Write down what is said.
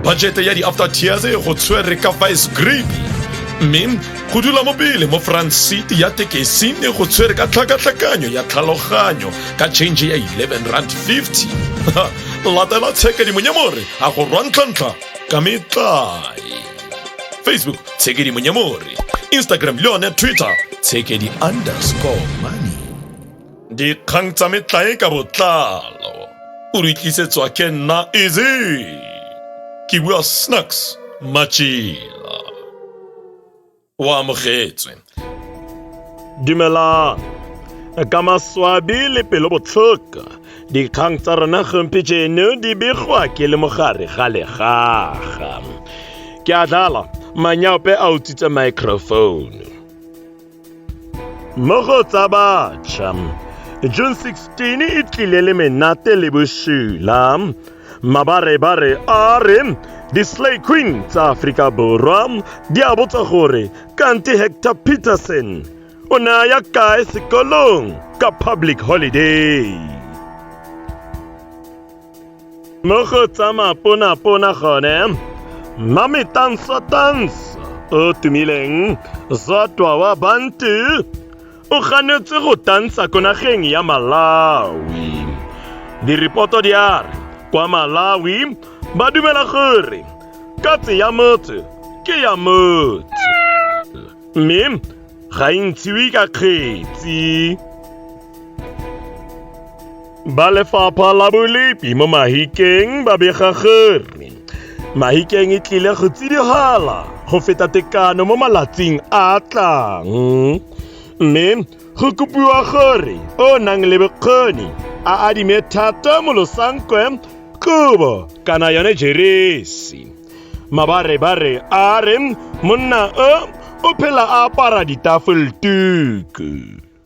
bajete ya di-after tears go tshwere ka vice grip mme go dula mo pele mo front seat ya tekesi ne go tshwere ka tlhakatlhakanyo ya tlhaloganyo ka change ya 11 rand 50 latela tshekadimonyamore a go rwantlhantlha ka metlae facebook tshekadimonyamore instagram le yone twitter tshekedi underscore money dikgang tsa metlae ka botlalo o re tlisetswa ke nna eze ke bua snacks machila o amogetswe dumelang ka maswabi le pelo botlhoko dikgang tsa rona gompejeno di begwa ke le mogare ga legaga ke a dlala manyaope a utswitse microphone mo go tsa batšha june 16 e tlile le menate le bosula mabarebare a re di-slay queen tsa aforika borwa di a botsa gore kante hector peterson o ne a ya kae sekolong ka public holiday mo go tsa maponapona gone mmame tansa tansa o tumileng zatwa wa bantu o ganetse go tansa ko nageng ya malawi diripoto di a re kwa malawi ba dumela gore katse ya motse ke ya motse mme ga e ntshiwe ka kgetsi ba lefapha la bolepi mo mahikeng ba bega gore mahikeng e tlile go tsidihela go feta tekano mo malatsing a tlang mme go kopiwa gore o nang le bokgoni a adime thata mo losankwe kobo kana yone jeresi mabarebare a re monna o o phela a apara ditafoltuku